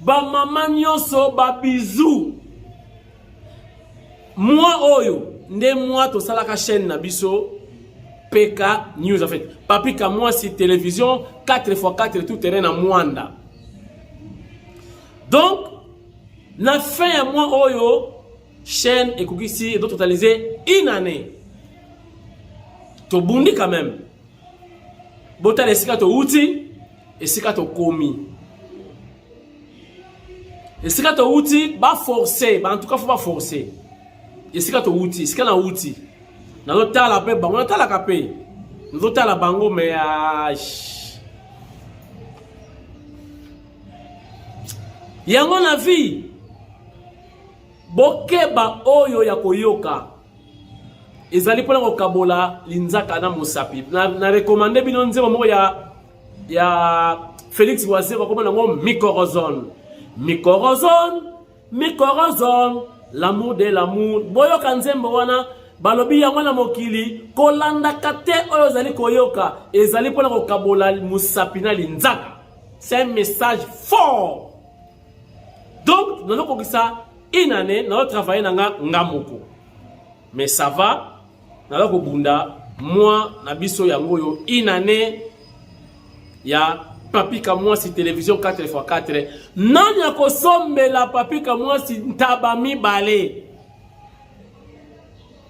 Ba mama nyoso ba bisous. Moi oyo nde moi tosalaka chaîne na biso PK News en fait. Papi Kamwasi télévision 4x4 tout terrain na Mwanda. Donc na fin ya mois oyo chaîne ekokisi edo totaliser une année. Tobundi quand même. botala esika towuti esika tokomi esika towuti baforce bantuka fo baforce esika towuti esika nawuti nazotala mpe bango natalaka mpe nazotala bango me yango na vie bokeba oyo ya koyoka ezali mpona kokabola linzaka na mosapi na, na rekomande bino nzembo moko ya, ya félix wazero akoma nango micorozone micorozone micorozone l'amour de l'amour boyoka nzembo wana balobi yango na mokili kolandaka te oyo ozali koyoka ezali mpona kokabola mosapi na linzaka c'est un message fort Donc, nous avons ça une année, nous avons travaillé dans Ngamoko. Mais ça va, nous avons bunda moi na biso yango yo une année ya papi kamwasi télévision 4x4 nani akosombela papi kamwasi ntaba mibale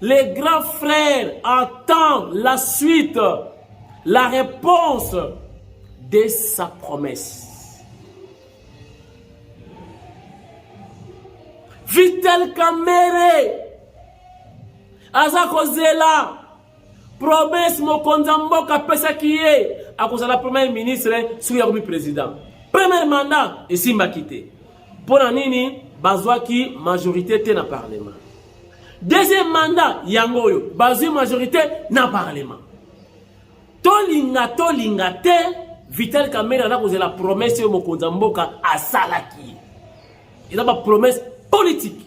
Le grand frère attend la suite, la réponse de sa promesse. Vital Kamere aza kozela promesse mokonzi ya mboka apesaki ye akozala premier ministre soki akomi président premier mandat esimbaki te mpo na nini bazwaki majorité te na parlement deuxième mandat yango oyo bazwi majorité na parlement tolinga tolinga te vital kamere aza kozela promese oyo mokonzi ya mboka asalaki ye eza bapromese politike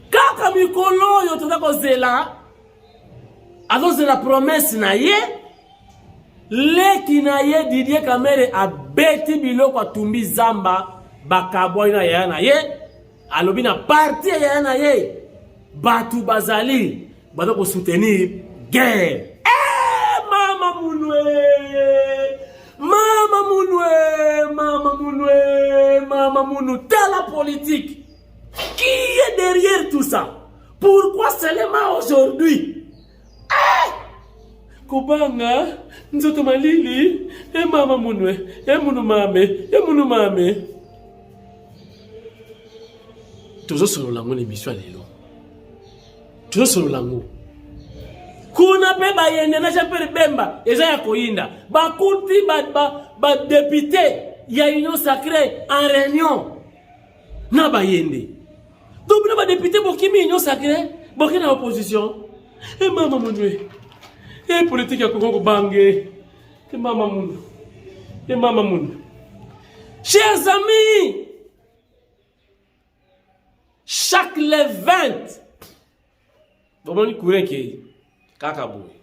kaka mikolo oyo toza kozela azozela promese na ye Leki na ye Didier Kamere abeti biloko atumbi zamba bakabwani na yaya na ye alobi na parti ya yaya na ye bato bazali baza kosoutenir guerre eh, mama munwe mama munwe mama munwe mama munu tala politique qui est derrière tout ça pourquoi seulement aujourd'hui kobanga nzoto malili emama munwe emunu mame emunu mame tozosolola yango na emisio ya lelo tozosolola yango kuna mpe bayende na jean pierre bemba eza ya koyinda bakuti badepute ba, ba ya union sacré en réunion na bayende Donc bino ba député bokimi union sacré boke na opposition. Eh mama munwe. Eh politique ya kokoko bange. Eh mama munwe. Eh mama munwe. Chers amis, chaque le 20 bomoni courant ekei kaka boye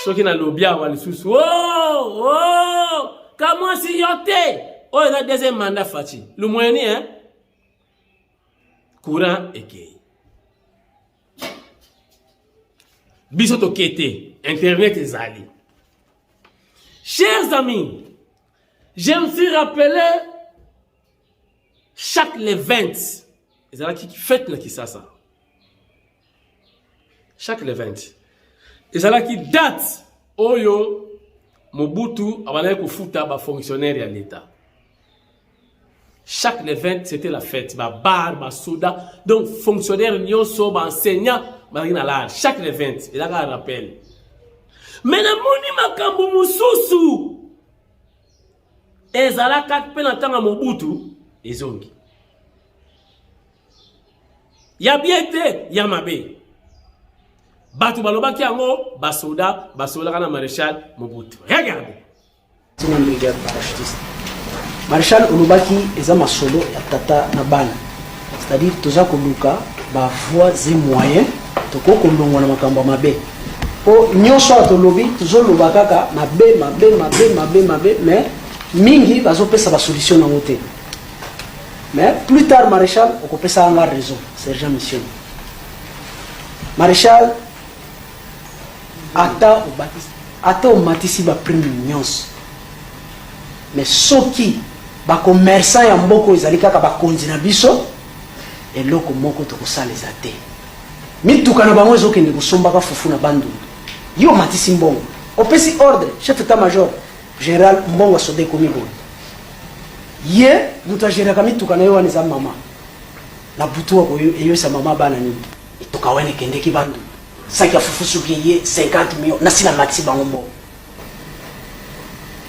soki nalobi awa lisusu o oh, oh, kamwasi yo te oyo eza deuxième mandat faci lumweni hein courant ekei biso tokei te internet ezali chers amis je me suis rappelé chaque le 20 ezalaki fete na kisasa chaque le 20 ezalaki date oyo Mobutu abandaki kofuta ba fonctionnaires ya l'État. Chaque le 20 c'était la fête, ba bar, ba soda, donc fonctionnaires nyonso, ba enseignants bazalaki na lar. Chaque le 20 ezalaka rappel. Mais namoni makambo mosusu ezalaka mpe na ntango ya Mobutu ezongi. ya bien te ya mabe bato balobaki yango basoda basololaka na maréchal mobutu regarde tina brigade parachutiste maréchal olobaki eza masolo ya tata na bana c'est-à-dire toza koluka bavoie ze moyen tokoki kolongwa na makambo ya mabe mpo nyonso oyo tolobi tozoloba kaka mabe mabe mabe mabe mabe mais mingi bazopesa basolution nango te Mais plus tard Marechal okopesa nga raison, sergent mission. Marechal ata obakisi ata omatisi ba prime nyonso mais soki ba commerçant ya mboka oyo ezali kaka bakonzi na biso eloko moko tokosala eza te mituka na bango ezokende kosombaka fufu na bandundu yo omatisi mbongo opesi ordre chef etat major General mbongo ya soda ekomi boye ye moto ageraka mituka na ye wana eza mama na butu eyoisa mama bana nini mituka wana ekendeki bandu saki ya fufu soki eye 50 million nasi na matisi bango mbongo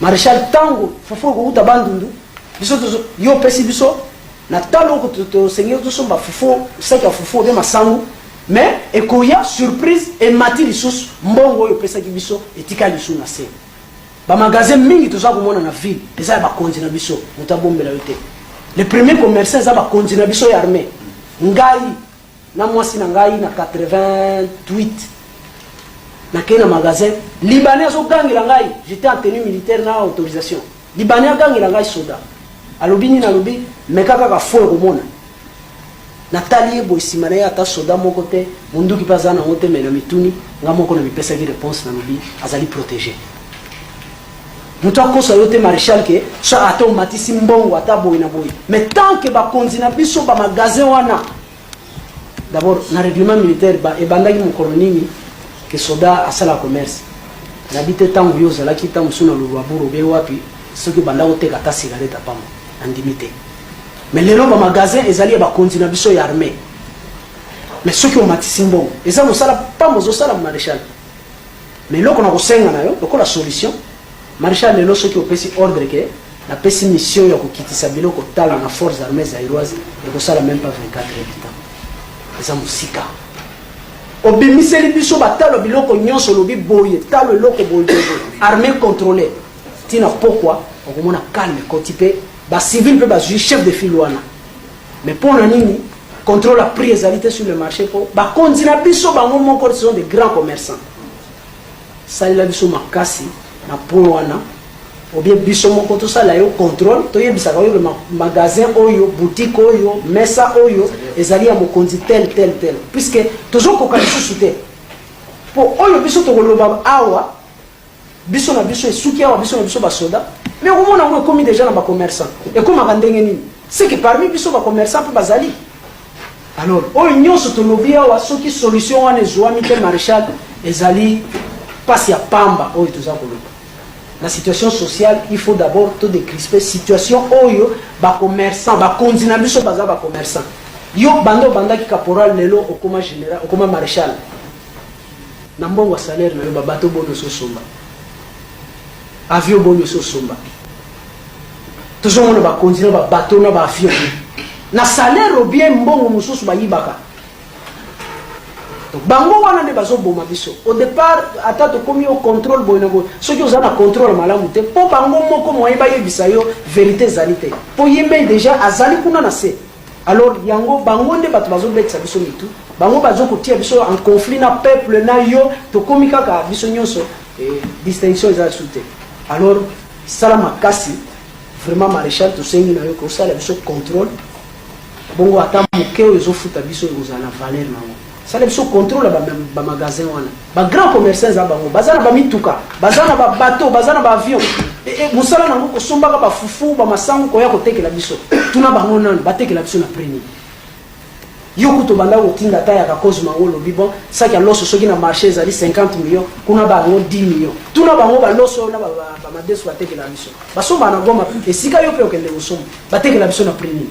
marechal ntango fufu ekowuta bandundu biso tozo yo opesi biso na talo oko tosengeli tosomba fufu saki ya fufu obe masangu mais ekoya surprise emati lisusu mbongo oyo opesaki biso etikali lisusu na se Ba magasin mingi toza komona na ville eza ya bakonzi na biso, moto abombela yo te. Le premier commerçant eza bakonzi na biso ya armee. Ngai na mwasi na ngai na 88 nakei na magasin, libanais azogangela ngai, j'etais en tenue militaire na autorisation Libanais agangela ngai soda alobi nini alobi meka kaka fo ekomona natali ye boye nsima na ye ata soda moko te monduki mpe aza nango te me na mituni nga moko na mipesaki reponse nalobi azali protege moto akosa yo te maréchal ke so ata omatisi mbongo ata boye na boye me tant ke bakonzi na biso bamagasin wana D'abord, na règlement militaire ba ebandaki mokolo nini ke soda asala commerce. Na bite tango yo ozalaki tango suna lulwa buru be wapi soki banda koteka ta cigarette apamo. Na ndimi te. Mais lelo ba magasin ezali ya bakonzi na biso ya armée. Mais soki omatisi mbongo, eza mosala pamo ozosala maréchal. Mais eloko na kosenga na yo lokola solution Marechal lelo soki opesi ordre ke na pesi mission ya kokitisa biloko tala na forces armées zaïroise ekosala même pas 24 heures de temps eza mosika obimiseli biso batalo biloko nyonso olobi boye talo eloko boye armée contrôle ntina pokwa okomona calme koti mpe bacivile mpe bazwi chef de file wana mais mpo na nini contrôle ya prix ezali te sur le marché mpo bakonzi na biso bango moko ce sont des grands commerçants Salela biso makasi na point wana ou bien biso moko tosala yo contrôle toyebisaka yo ma magasin oyo boutique oyo mesa oyo ezali ya mokonzi tel tel tel puisque tozokoka lisusu te mpo oyo biso tokoloba awa biso na biso esuki awa biso na biso basoda mais okomona yango ekomi deja na bacommerçant ekomaka ndenge nini seke parmi biso bacommerçant mpe bazali Alors oyo nyonso tolobi awa soki solution wana ezuami te marechal ezali pasi ya pamba oyo toza koloba na situation sociale il faut d'abord to décrisper situation oyo ba commerçants ba konzi na biso baza ba commerçants yo bando banda ki caporal lelo okoma général okoma marechal na mbongo salaire na yo ba bateau bono so somba Avion boni osi osomba? Tozo mona ba konzi na ba bateau na ba avion na salaire ou bien mbongo mosusu bayibaka. Bango wana nde bazo boma biso. Au départ ata tokomi au contrôle boye na boye. Soki oza na contrôle malamu te po bango moko moyen bayebisa yo verite ezali te. Po ye mei dejà azali kuna na se. Alors yango bango nde bato bazobetisa biso mitu, bango bazokotia biso en conflit na peuple na yo, tokomi kaka biso nyonso eh, distinction eza lisusu te. Alors sala makasi vraiment, maréchal, tosengi na yo kosala biso contrôle bongo ata moke oyo ezofuta biso ekozala na valeur na yango. sala biso contrôle ya bamagasin ba wana bagrand commerçant eza bango baza na bamituka baza na babateau baza na baavion e, e, mosala nango kosombaka bafufu bamasango koya kotekela biso tuna bango nano batekela biso na premier yo kutu obanda kotinda ata yaka cause mango olobi bon saki ya loso soki na marché ezali 50 million kuna bango 10 million tuna bango baloso oyo na bamadeso batekela biso basomba na goma esika yo mpe okende kosomba batekela biso na prix nini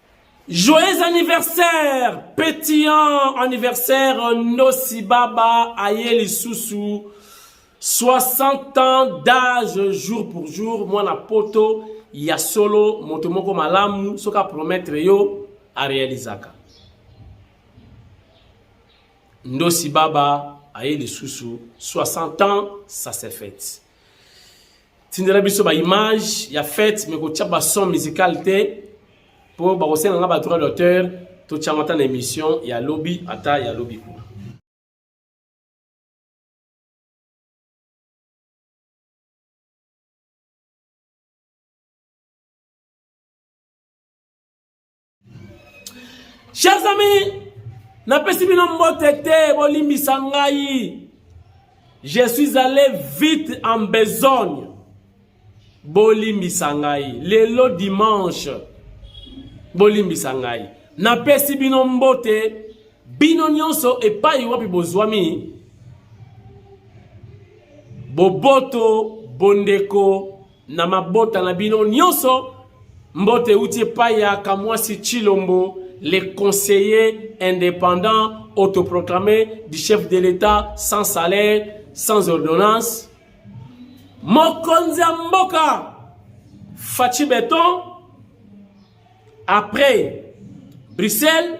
Joyeux anniversaire pétillant anniversaire Nosi Baba aye lisusu 60 ans d'âge jour pour jour mwana poto ya solo moto moko malamu soki apromettre yo arealizaka Ndosi Baba aye lisusu 60 ans ça se fête tindela biso ba image ya fete mais kotia ba son musical te po bakosenga nga ba droit d'auteur totiango ata na émission ya lobi ata ya lobi kuna Chers amis, napesi bino mbote te, bolimbisa ngai. Je suis allé vite en besogne. Bolimbisa ngai. Lelo dimanche. Bolimbisa ngai. Napesi bino mbote bino nyonso epai wapi bozwami boboto bondeko na mabota na bino nyonso. Mbote euti epai ya Kamwasi Chilombo, le conseiller indépendant autoproclamé du chef de l'État sans salaire, sans ordonnance. Mokonzi ya mboka Fatshi Beton après Bruxelles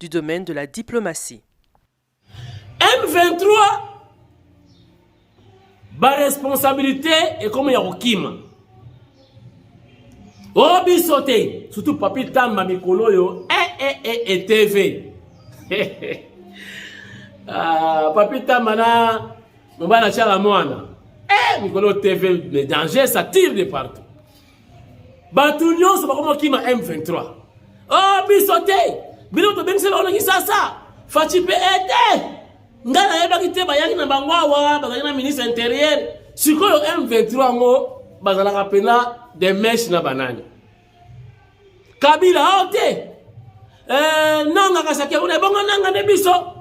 du domaine de la diplomatie. M23 ba responsabilité ekomi ya kokima o oh, biso te surtout papi tamba mikolo oyo e eh, e eh, e eh, e tv ah, papi tamba na mobali atyala mwana e mikolo tv danger ça tire de partout Bato nyonso bakoma kima M23. Oh biso te. Bino tobengisela wana kisasa. Fachi pe ete. Eh, Ngai nayebaki te bayaki na bango awa bazali na ministre interieur. Sikoyo M23 yango bazalaka pena de mesh na banani. Kabila ao oh, te. Eh, nanga kasake una bongo nanga ne biso.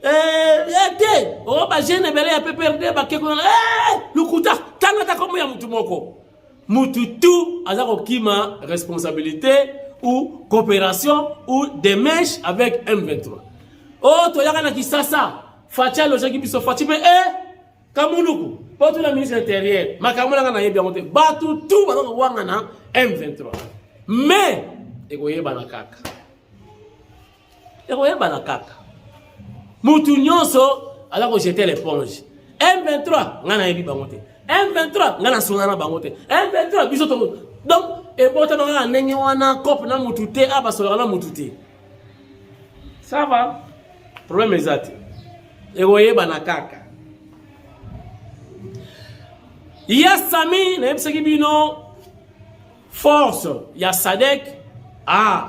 Eh, ete eh, o oh, ba jeune bele ya PPRD bakekona. Eh, lukuta tanga ta komo ya mutu moko. mutu tout aza kokima responsabilité ou coopération ou démarche avec M23 oh toyaka na Kisasa Fatshi alojaki biso Fatshi mpe e eh, Kamunuku mpo tuna ministre intérieur makambo nanga nayebi yango te bato tout baza kowangana M23 mais ekoyebana kaka ekoyebana kaka mutu nyonso aza kojete leponge m23 ngai nayebi bango te m23 ngai nasonga na bango te m23 biso to donc ebotama kaka ndenge wana cope na mutu te a basolaka na mutu te ça va problème eza te ekoyebana kaka ya sami nayebisaki bino force ya sadek ah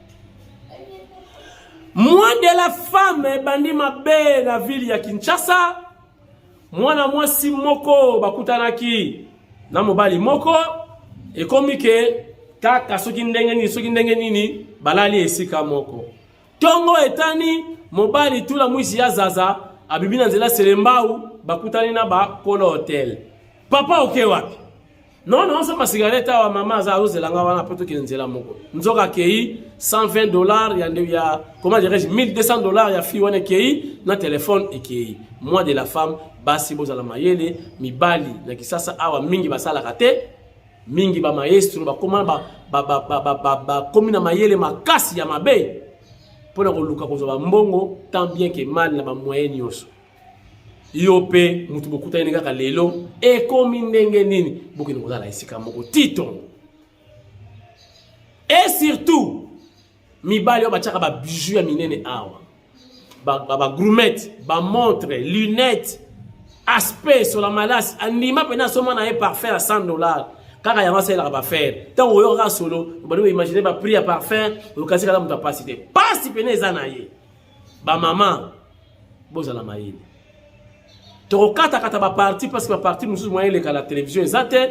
Moi de la femme ebandi mabe na ville ya Kinshasa. Mwana mwasi moko bakutanaki na mobali moko ekomi ke kaka soki ndenge nini soki ndenge nini balali esika moko. Tongo etani mobali tula mwisi ya zaza abibi na nzela selembau bakutani na ba kolo hotel. Papa oke okay, wapi? non non osomba cigarette awa mama aza azozela nga wana mpo tokende nzela moko nzoka akei 120 dollars ya, ya comment dirais-je 1200 dollars ya fille wana ekei na telefone ekei mois de la femme basi bozala mayele mibali na kisasa awa mingi basalaka te mingi bamaestro bakoma bakomi na mayele makasi ya mabe mpo na koluka kozwa bambongo tant bien ke mal na bamoyen nyonso yo mpe moto bokutani kaka lelo ekomi ndenge nini bokende kozala esika moko titongo e surtout mibali oyo batyaka babiju ya minene awa bagrumete ba, ba bamontre lunette aspect sola malasi andima mpena asomba na ye parfum ya 100 dollars kaka yango asalelaka bafere ntango oyoka kaka solo obandi koimagine baprix ya parfum okasi kaka moto apasi te mpasi mpena eza na ye ba mama bozala mayele tokokatakata baparti parce que baparti mosusu moyen eleka na télévision eza te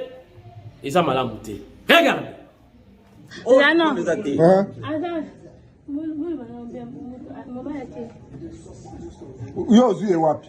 eza malamu te regarde oh, yo ozwi ye wapi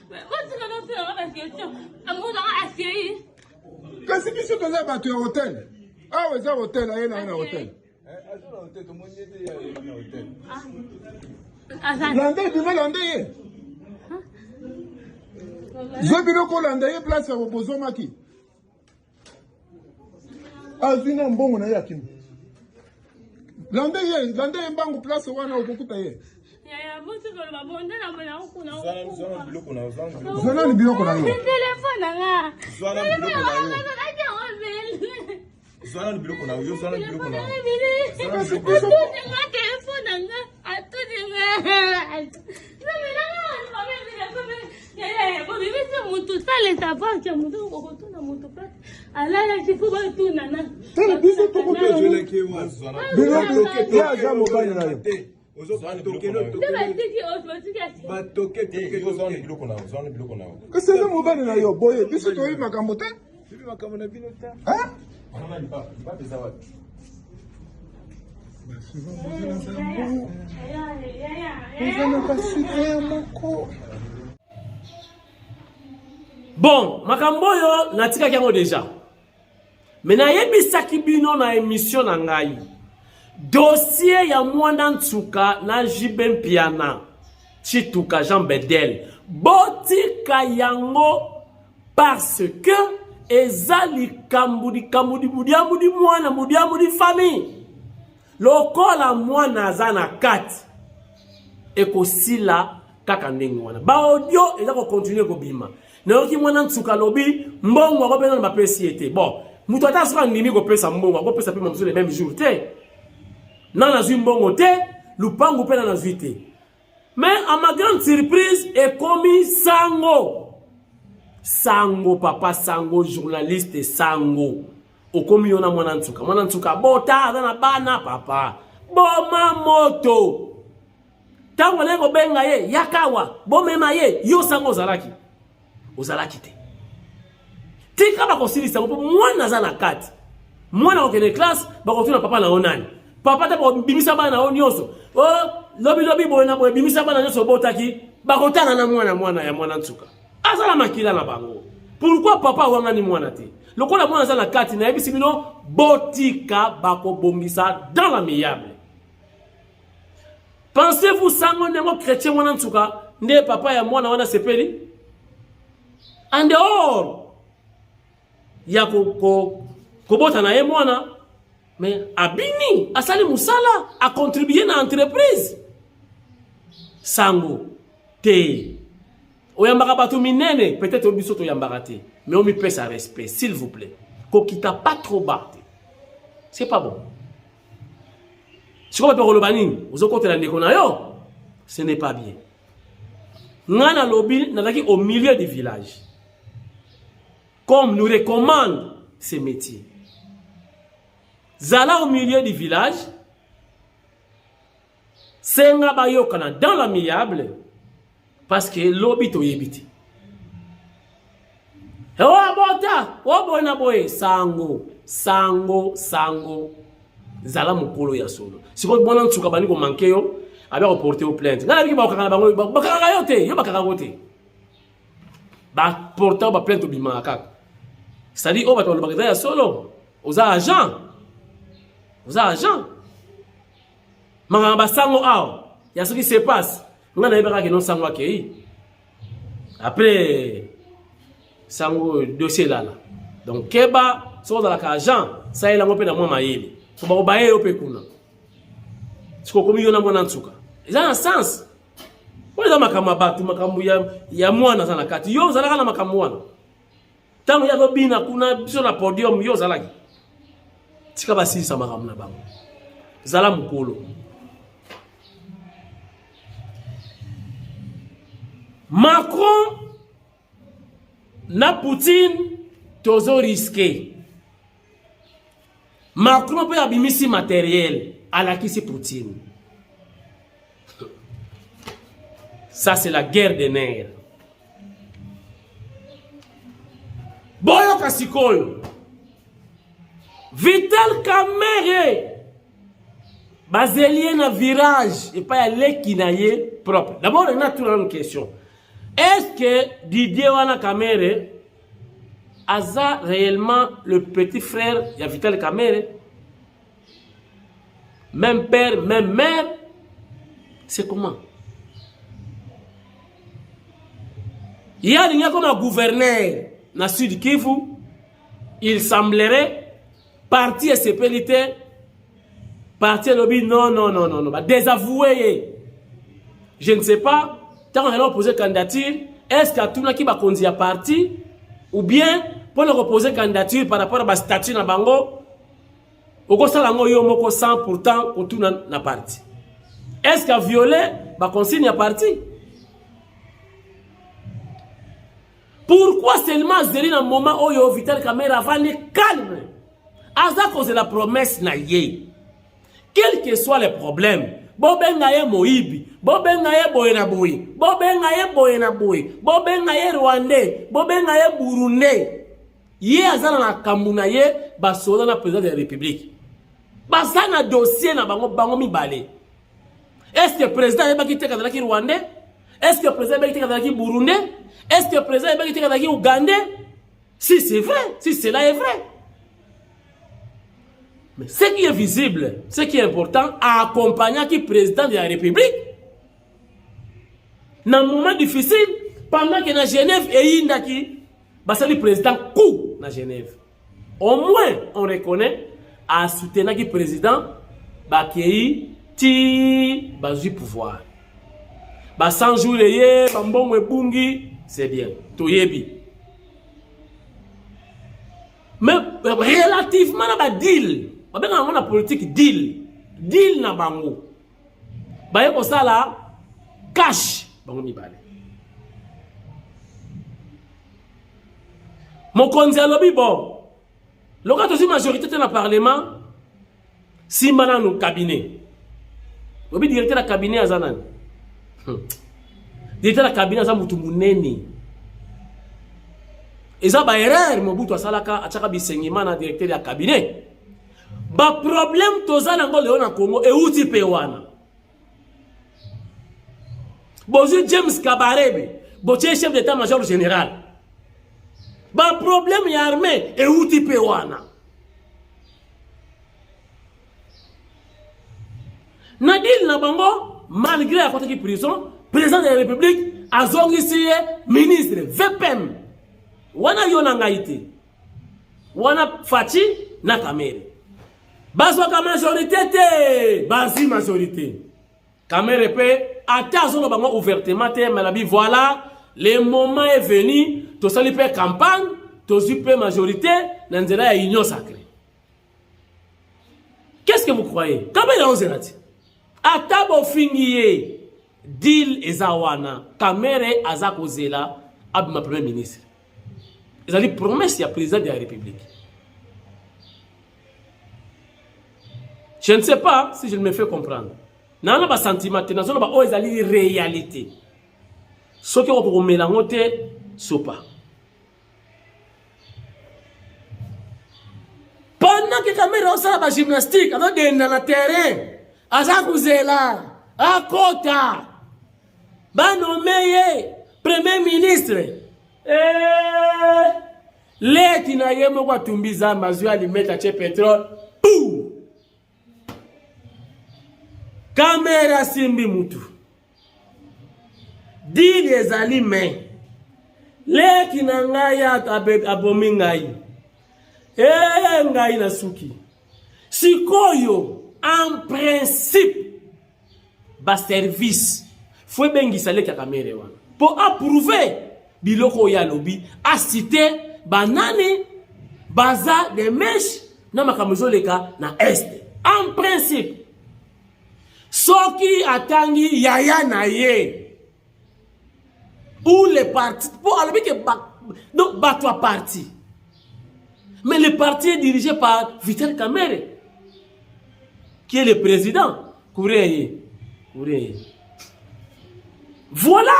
kasi biso toza bato ya hotel awa eza hotel aye na ye na hotel landa ebima landa ye zwa biloko olanda ye place ya bozomaki azwi na mbongo na ye akimi lande ye lande ye mbangu place wana okokuta ye zwanani biloko na yo zwanani biloko na yo zwanani biloko na yo eza mobali na yo boye biso toyebi makambo te Bibi makambo na bino ta. Hein? Mama ni papa, ni papa eza wapi? Eza na basika ya moko. Bon, makambo oyo natikaki yango deja. Me nayebisaki bino na emission na ngai dossier ya mwana nsuka na JB Mpiana Chituka Jean Bedel botika yango parce que eza likambo likambo libudiambu di mwana budiambu di famille lokola mwana aza na kati ekosila kaka ndenge wana baaudio eza kokontinue kobima nayoki mwana nsuka alobi mbongo yango mpe nano bapesi ye te bon moto ata soki andimi kopesa mbongo akopesa mpe mamosusu le meme jour te nana azwi mbongo te lupangu mpe nana azwi te Mais à ma grande surprise ekomi sango. Sango papa sango journaliste sango. Okomi yona mwana nsuka. Mwana nsuka bota aza na bana papa. Boma moto. Tango na kobenga ye yakawa bomema ye yo sango ozalaki. ozalaki te tika bakosilisa yango mpo mwana aza na kati mwana akokende classe bakotuna papa na yo nani papa te bakobimisa bana na yo nyonso o oh, lobilobi boye na boye bimisa bana nyonso obotaki bakotana na mwana mwana ya mwana nsuka aza na makila na bango pourkui papa awangani mwana te lokola mwana aza na kati nayebisi bino botika bakobongisa dans la miyable Pensez-vous sango ndenge chrétien wana nsuka nde papa ya mwana wana sepeli en dehors ya kobota na ye mwana mais abini asali mosala acontribue na entreprise sango te oyambaka bato minene peut-être oyo biso toyambaka te mais omipesa respect s'il vous plaît kokita pas trop bas te c'est pas bon sikoyo bato bakoloba nini ozokotela ndeko na yo ce n'est pas bien ngai nalobi nazalaki au milieu du village comme nous recommande ce métier zala au milieu du village senga bayokana dans l'amiable parce que lobi toyebi te ewabota oboye na boye sango sango sango zala mokolo ya solo sikoyo bona nsuka bandi komanke yo abi akoporte yo plainte ngai nabiki bakokanga na bango bakanga yo te yo bakanga ngo te baporta baplainte obimaka kaka cestadire oyo bato balobaka eza ya solo oza agent oza agent Manganga ba sango awa ya soki se passe nga nayebaka ke non sango akei après sango dossier elala donc keba soki ozalaka agent salela yango mpe na mwa mayele so bakobaye yo mpe kuna soki okomi yo na mwana nsuka eza na sens oyo eza makambo ya bato makambo ya mwana aza na kati yo ozalaka na makambo wana Tango ya kobina kuna biso na podium yo ozalaki. Tika basilisa makambo na bango. Zala mokolo. Macron na Poutine tozo risquer Macron mpe abimisi materiel alakisi Poutine. Ça c'est la guerre des nerfs. Boyoka sikoyo. Vital Kamerhe bazeli ye na virage epai ya leki na ye propre. D'abord, natuna une question. Est-ce que Didier wana Kamerhe aza réellement le petit frère ya Vital Kamerhe même père même mère c'est comment ye alingi akoma gouverneur na sud kivu il semblerait Parti esepeli te. Parti elobi non non non non, ba désavouer ye. Je ne sais pas tant on a posé candidature, est-ce que atunaki ba konzi ya parti ou bien pour le reposer candidature par rapport à ba statut na bango okosala yango yo moko sans pourtant kotuna na parti est ce que viole baconsigne ya parti Pourquoi seulement azeli na moment oyo Vital Kamerhe avandi calme aza kozela promesse na ye quel que soit le problème bobenga ye moyibi bobenga ye boye na boye bobenga ye boye na boye bobenga ye rwandais bobenga ye burundais ye aza na makambo na ye basoda na président de la république baza na dossier na bango bango mibale Est-ce que président ayebaki te kazalaki rwandais? Est-ce que président ayebaki te kazalaki burundais? Est-ce que président ayebaki te kazalaki ougandais? Si c'est vrai, si cela est vrai. Mais ce qui est visible, ce qui est important, accompagnaki président de la République na moment difficile pendant que na Genève eyindaki basali président coup na Genève. Au moins on reconnaît a soutenaki président bakei ti bazui pouvoir ba 100 jours eye bambongo ebungi c'est bien toyebi mais euh, relativement na badeal babengaka yango na politique deal deal na bango baye kosala cash bango mibale. Mokonzi alobi bon, loka tozwi majorité te na parlement, simba nanu cabinet. Lobi directeur ya cabinet aza nani? Hmm. Directeur ya cabinet aza mutu munene. Eza ba erreur Mobutu asalaka, achaka bisengima na directeur ya cabinet. Ba problème toza nango leo na Congo euti pe wana. Bozui James Kabarebe, botie chef d'état major général. Ba problème ya armée euti pe wana. Na deal na bango malgré akotaki prison, président de la République azongisi ye ministre VPM. Wana yo na ngai te. wana Fatshi na Kamere bazwaka majorité te bazwi majorité Kamere mpe ata azoloba bango ouvertement te malabi voilà le moment est venu tosali mpe campagne tozwi mpe majorité na nzela ya union sacrée qu'est-ce que vous croyez Kamere aozela te ata bofingi ye deal eza wana Kamere aza kozela abima premier ministre ezali promesse ya président de la république je ne sais pas si je ne me fais comprendre naa na basentiment te nazoloba oyo ezali réalité soki okokomela yango te sopa pendant que kamera osala bagymnastique azodenda na terrain aza kozela akota banome ye premier ministre eh, leki na ye moko atumbi zambe azwi alimete atye petrole pou kamere asimbi mutu dili ezali me leki na ngai abomi ngai ee eh, ngai nasuki sikoyo en principe ba service fo ebengisa leki ya kamere wana mpo aprouve biloko oyo alobi asite banani baza de meshe na makambo ezoleka na est en principe soki atangi yaya na ye ou les partis mpo alobi ke donc bato ya parti mais le parti est dirigé par vital kamere qui est le président kuria ye kuria ye voilà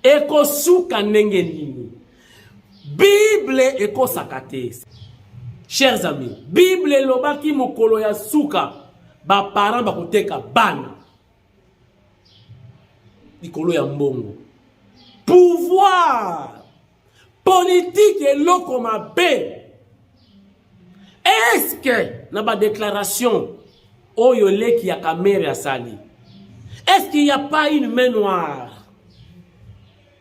ekosuka ndenge nini Bible ekosaka te. Chers amis, Bible elobaki mokolo ya suka ba parents bakoteka bana likolo ya mbongo. Pouvoir politique eloko mabe. Est-ce que na ba déclaration oyo leki ya Kamerhe asali, est-ce qu'il n'y a pas une main noire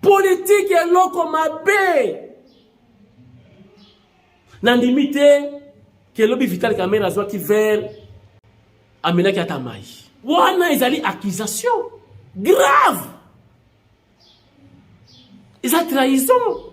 Politique eloko mabe. Nandimi te ke lobi Vital Kamerhe azwaki verre amelaki ata mai. Wana ezali accusation grave. Eza trahison.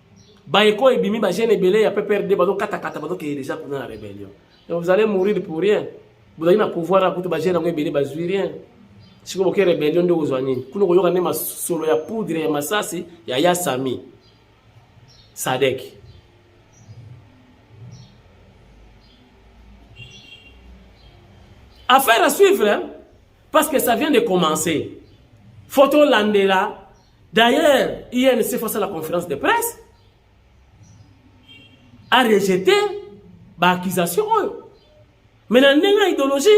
Baeko ebimi ba jeune ebele ya PPRD bazo kata kata bazo keye deja kuna na rebellion. Et vous allez mourir pour rien. Bozali na pouvoir akutu ba jeune yango ebele bazwi rien. Siko boke rebellion nde ozwa nini? Kuna koyoka nde masolo ya poudre ya masasi ya Yasami. Sadek. Affaire à suivre, hein? parce que ça vient de commencer. Photo Landela, D'ailleurs, INC face à la conférence de presse a rejeté ba accusation oyo. Mais na ndenge ya idéologie,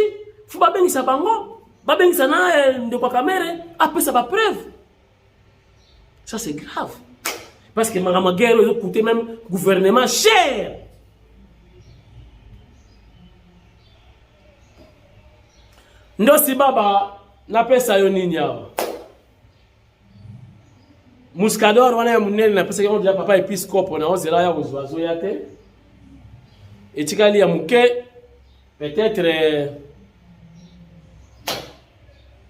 faut ba bengisa bango, ba bengisa na eh, ndeko Kamere apesa ba preuve. Ça c'est grave. Parce que makambo ya guerre ezo coûte même gouvernement cher. Ndosi baba napesa yo nini awa? Muscador wana ya munene na pesa yango ya papa episcopo na ozela ya kozwa zoya te etikali ya muke peut-être euh,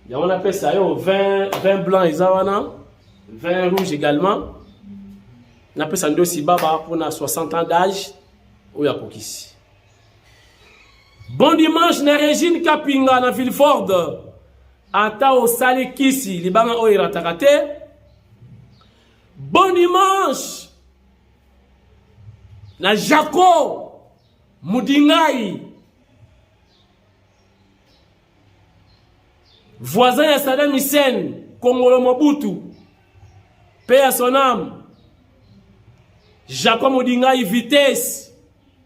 yango na pesa yo 20 20 blanc eza wana 20 rouge également na pesa ndosi baba pona 60 ans d'âge oyo akokisi Bon dimanche na Regine Kapinga na Vilford. Ata osali kisi libanga oyo erataka te. Bon dimanche na Jaco Mudingai. Voisin ya Saddam Hussein, Kongolo Mobutu. Paix à son âme. Jaco Mudingai vitesse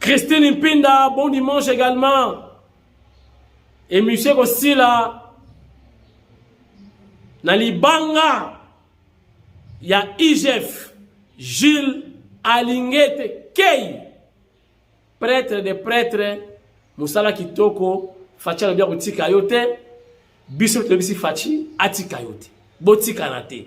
Christine Mpinda, bon dimanche également. Et Monsieur Kosila, na libanga ya IGF, Gilles Alingete Kei, prêtre de prêtres, Moussala Kitoko, Fatshi alobi akotika yo te, biso tolobisi Fatshi atika yo te, botikana te.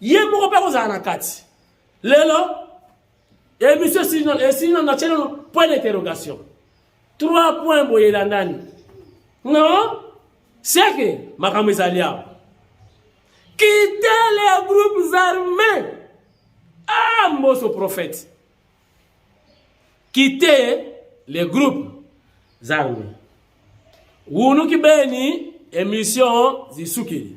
ye moko mpe akozala na kati lelo emission esili nano natye nano point d'interrogation trois point boye elandani non seke makambo ezali awa kite les groupes armés ah mboso prophète kite les groupes armés wunuki beni emission zisukeli